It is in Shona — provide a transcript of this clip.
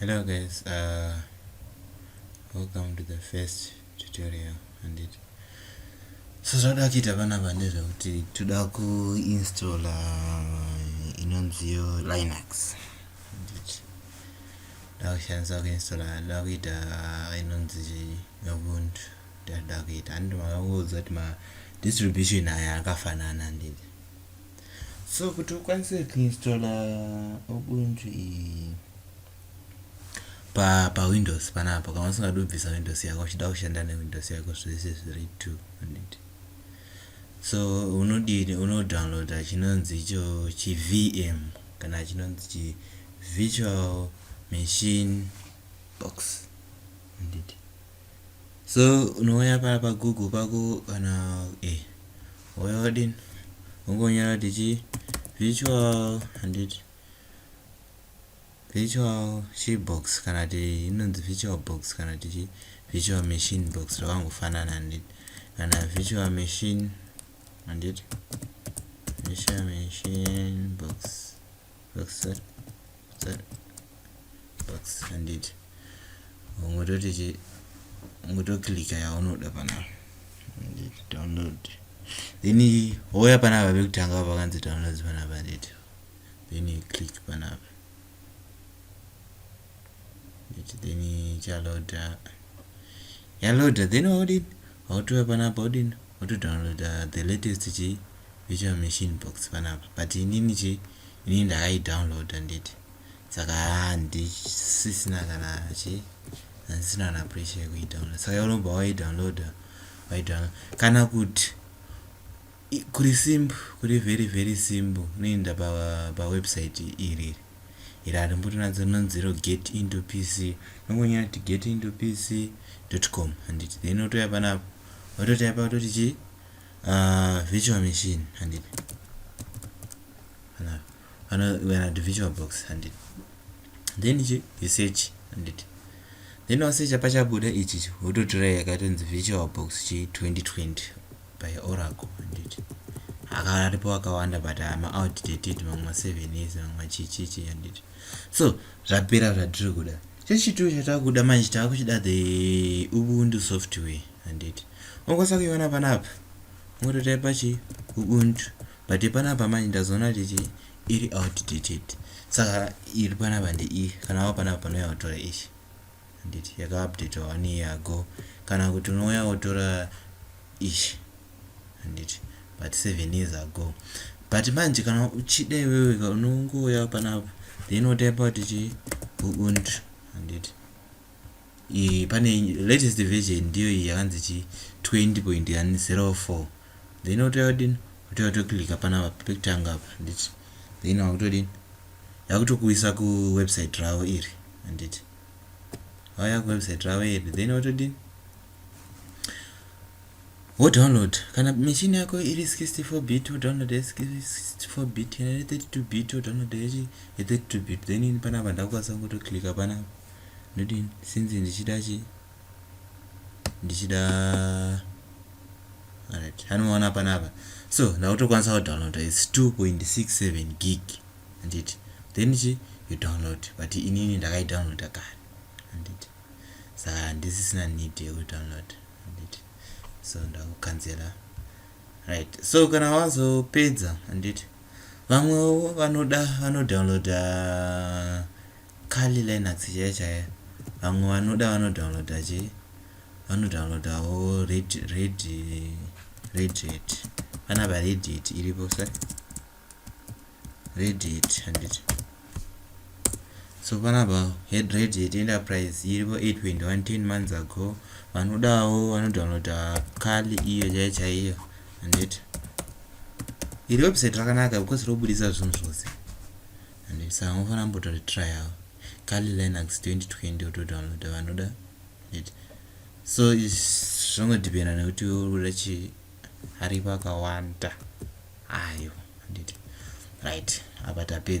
hello guys uh, welcome to the first tutorial and it so zvakuda kuita panapa ndezvekuti toda kuinstalla uh, inonziyo linux ndakushandisa kuinstalla ndakuita uh, inonzi ubuntu Ndada kuita and makangoudza kuti ma distribution aya akafanana ndini. So kuti ukwanise kuinstalla Ubuntu iyi pa pa Windows panapa kana usingadi kubvisa Windows yako uchida kushanda ne Windows yako zvese zviri two handiti. So unodini unodownloada chinonzi icho chi VM kana chinonzi chi virtual machine box handiti. so unouya paa pagoogle pako kana eh wouya wadini ungonyora kuti chii virtual handiti virtual chii box kana kuti inonzi virtual box kana kuti chii virtual machine box zvakangofanana handiti kana virtual machine handiti virtual machine box backside side backside handiti ungototi chi ungotokilika yaunoda panapa handiti download then houya panapa pekutanga pakanzi downloads panapa handiti then click panapa handiti then chaloda yaloda then waudini Wakutuva panapa odini oto downloader the latest chii virtual machine box panapa but inini chii inini ndakai download handiti saka handisisina kana chii handisina kana pressure yekui download saka unobva wai download wai download kana kuti kuri simple kuri very very simple unoenda pa, pa website iriri iri harimbori nadzo rinonzi iro get into pc unongonyora kuti get into pc com handiti then otouya panapo ototaipa kutoti chii uh, virtual machine handiti vanati virtual box handiti then chi you search handiti then wasecha pachabuda ichi wototora yakatonzi virtual box chi 2020 by oracle handiti akara aripo akawanda but ama outdated mamwe masevenis mamwe machichichi handiti so zvapera zvatiri kuda chechitoo chatakuda manje takuchida the ubuntu software handiti unokwanisa kuiona panapa ungototaipa chi ubuntu but panapa manje ndazoona kuti chi iri outdated saka iri panapa ndeiyi kana wa panapa panouya kutora ichi Handiti yaka updater one year ago kana kuti unouya wotora ish handiti but seven years ago but manje kana uchida iwewe ka unongouya panapa then wotaipa kuti chii ubuntu handiti iyi pane latest version ndiyo iyi yakanzi chii 20.04 then wotouya kudini wotouya wotoclicka panapa pekutanga apa handiti then wakutodini yakutokuisa kuwebsite ravo iri handiti vauya kuwebsite ravo iri then wotodii wodownload kana machine yako iri 64 bit wodownload 64 bit kana iri 32 bit wodownload ye 32 bit then ini panapa ndakukwanisa kungotoclicka panapa ndodini since ndichida chi ndichida right anoona panapa so ndakutokwanisa kudownloada its 2.67 gig handiti then chi you download but inini ndakaidownloada kare handiti saka handisisina need yekudownload handiti so ndakukanzera right so kana wazopedza handiti vamwewo vanoda vanodownloada kali linux chaiya chaiya vamwe vanoda vanodownloada chi vanodownloadawo red red red red panapa red it iripo sa radiate handiti so panapa head radiate enterprise iripo 8.110 months ago vanodawo vanodownloada kali iyo chaiyo chaiyo handiti iri website rakanaka because robudisa zvinhu zvose handiti saka unofanira mbotori trial kali linux 2020 otodownloada vanoda handiti so zvongodhipenda nekuti uri kuda chii ari vakawanda ayo handiti right apa tapedza